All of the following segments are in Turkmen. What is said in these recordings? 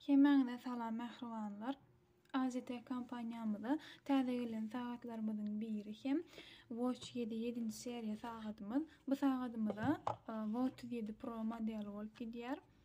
Hemäňize salam mähribanlar. AZT kompaniýamyza täze gelen sagatlarymyzyň biri hem Watch 7 7-nji seriýa sagadymyz. Bu sagadymyz-a Watch 37 Pro modeli bolup gidýär.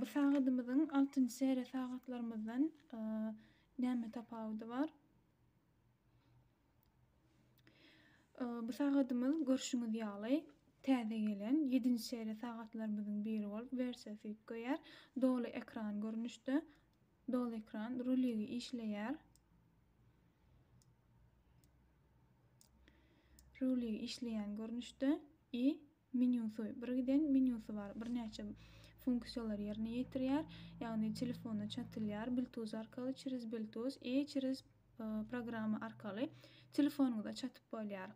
Bu sagadymyzyň altynjy seriýa sagatlarymyzdan näme tapawudy bar? Bu sagadymyz görşüňiz ýaly täze gelen 7-nji seriýa sagatlarymyzyň biri bolup, wersiýasy üýtgeýär. Doly ekran görnüşde Doly ekran ruligi işleýär. Ruligi işleýän görnüşde i menýusy, birgiden menýusy bar. Birnäçe funksiýalary ýerine ýetirýär. Ýagny telefona çatylýar Bluetooth arkaly, çerez Bluetooth i çerez programma arkaly telefonyňyza çatyp bolýar.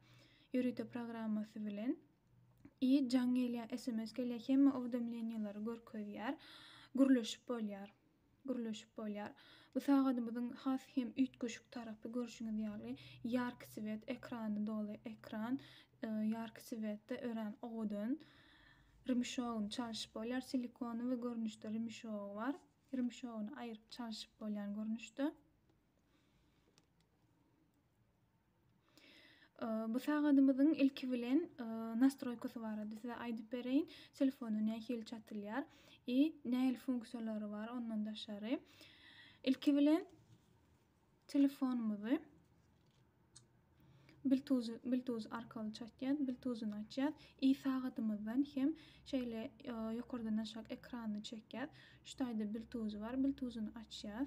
Ýörite programmasy bilen i jaň gelýär, sms gelýär, hemme owdomleniýalary görkezýär, gürleşip bolýar. gürleşip bolýar. Bu sagadymyzyň has hem üýtgeşik tarapy görşüňiz ýaly ýarki swet ekrany doly ekran ýarki swetde örän owadan rymşogyny çalşyp bolýar silikony we görnüşde rymşogy bar rymşogyny aýyryp çalşyp bolýan görnüşde. Bu sagadymyzyň ilki bilen nastroýkasy barada size aýdyp bereýin. Telefona nähili çatylýar i nähili funksiýalary bar ondan daşary. Ilki bilen telefonumyzy Bluetooth Bluetooth arkaly çatýar, Bluetooth-uny açýar. I sagadymyzdan hem şeýle ýokardan aşak ekranyny çekýär. Şu taýda Bluetooth bar, Bluetooth-uny açýar.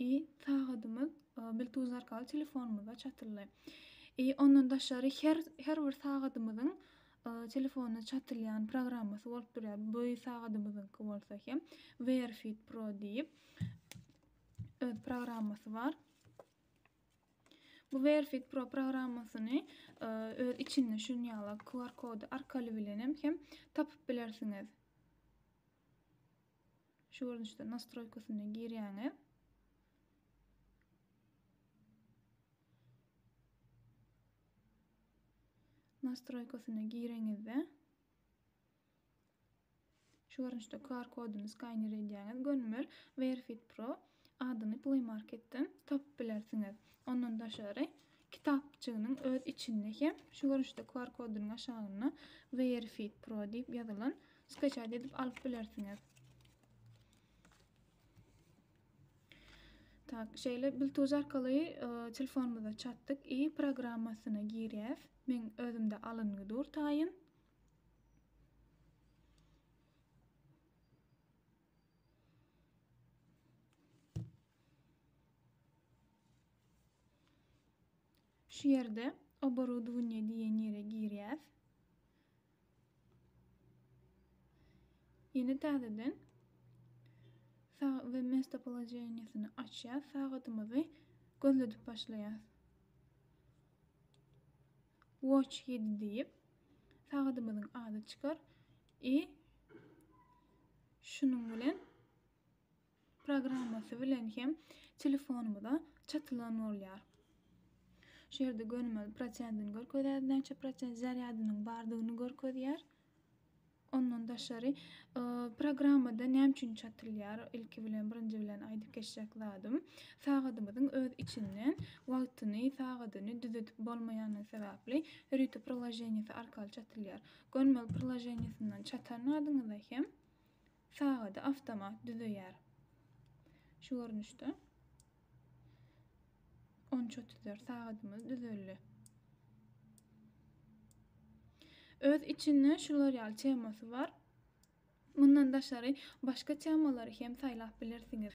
I. Sagadymyz bilt uzy arkaly telefonymyza çatyldy. I. Ondan daşary her her bir sagadymyzyň telefona çatylýan programmasy bolup durýar. Bu sagadymyzyňky bolsa hem Wear Fit Pro diýip öz programmasy bar. Bu Wear Fit Pro programmasyny öz içinde şunuň ýaly QR kody arkaly bilenem hem tapyp bilersiňiz. Şu görnüşde nastroýkasyna girýäňiz. Nastroýkasyna gireňizde şu görnüşde QR koduny skaner edýäňiz. Gönümel Verifit Pro Adyny Play Marketden tapyp bilersiňiz. Ondan daşary, kitapjygynyň öz içinde hem şu görnüşde QR kodunyň aşagynda Wearfeed Pro diýip ýazylan skaçat edip alyp bilersiňiz. Tak, şeýle Bluetooth arkaly telefonymyza çatdyk i programmasyna girýäs. Meň özümde alyngy dur taýyn. Şu ýerde oborodownie diýen ýere girýäs. Ýene täzeden sagat we mesto polojeniýesini açýas. Sagatymyzy gözledip başlaýas. Watch ýedi diýip, sagadymyzyň ady çykar i şunuň bilen programmasy bilen hem telefonymyza çatylan bolýar. Şu ýerde gönümel prosentini görkezýär, näçe prosent zarýadynyň bardygyny görkezýär. Ondan daşary, programmada näme üçin çatylýar? Ilki bilen, birinji bilen aýdyp geçjek zadym, sagadymyzyň öz içinden wagtyny, sagadyny düzedip bolmaýandygy sebäpli Rüti priloženiýesi arkaly çatylýar. Gönmel priloženiýesinden çatan adyňyza hem Sagady awtomat düzeýär. Şu görnüşde on üç otuz dört sagadymyz düzeldi. Öz içinde şular ýaly temasy bar. Mundan daşary başga temalary hem saýlap bilersiňiz.